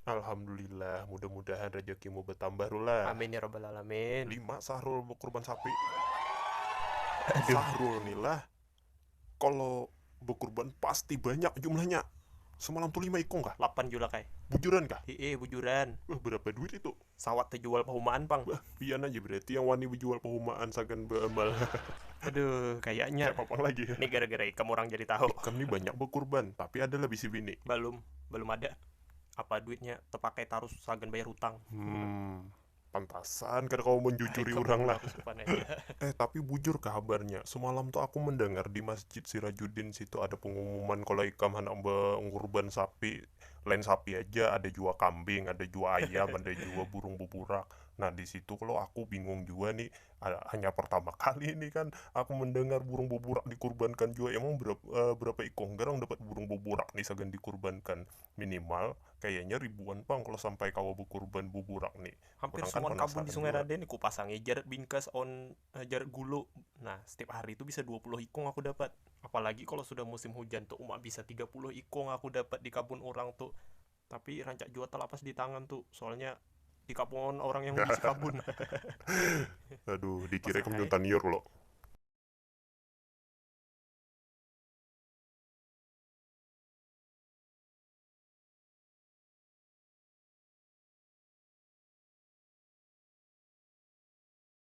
Alhamdulillah, mudah mudahan rejekimu betambah Rula. Amin ya rabbal alamin. Lima sahrul bekurban sapi. Aduh. Sahrul nih lah kalo bekurban pasti banyak jumlahnya. Semalam tuh lima ikung kah? Lapan julak ai. Bujuran kah? Hiih bujuran. Wah berapa duit itu? Sawat tajual pahumaan pang. Bah pian aja berarti yang wani bejual pahumaan sagan beamal hahaha. Aduh kayaknya. Kaya papang lagi hahaha. Ni gara gara ikam urang jadi tahu. Ikam ni banyak bekurban tapi ada lah bisi bini. Balum, balum ada. Apa duitnya tepakai tarus sagan bayar hutang. Humm pantasan kada kawa menjujuri urang lah hahaha. Eh tapi bujur kah habarnya semalam tu aku mendengar di masjid sirajuddin situ ada pengumuman kalo ikam handak bengurban sapi. lain sapi aja ada jua kambing ada jua ayam ada jua burung buburak nah disitu kalo aku bingung jua nih hanya pertama kali nih kan aku mendengar burung buburak dikurbankan jua emang berapa ikung garang dapat burung buburak nih sagan dikurbankan minimal kayanya ribuan pang kalo sampai kawa bekurban buburak nih hampir suan kebun di sungai raden kupasangi jar bingkas on. Hajar gulu. Nah, setiap hari itu bisa 20 ikung aku dapat. Apalagi kalau sudah musim hujan tu uma bisa 30 ikung aku dapat di kabun urang tu. Tapi rancak jua talapas di tangan tu, soalnya di kapungan orang yang bisi kabun. Aduh, dikira ikam junta niur lo.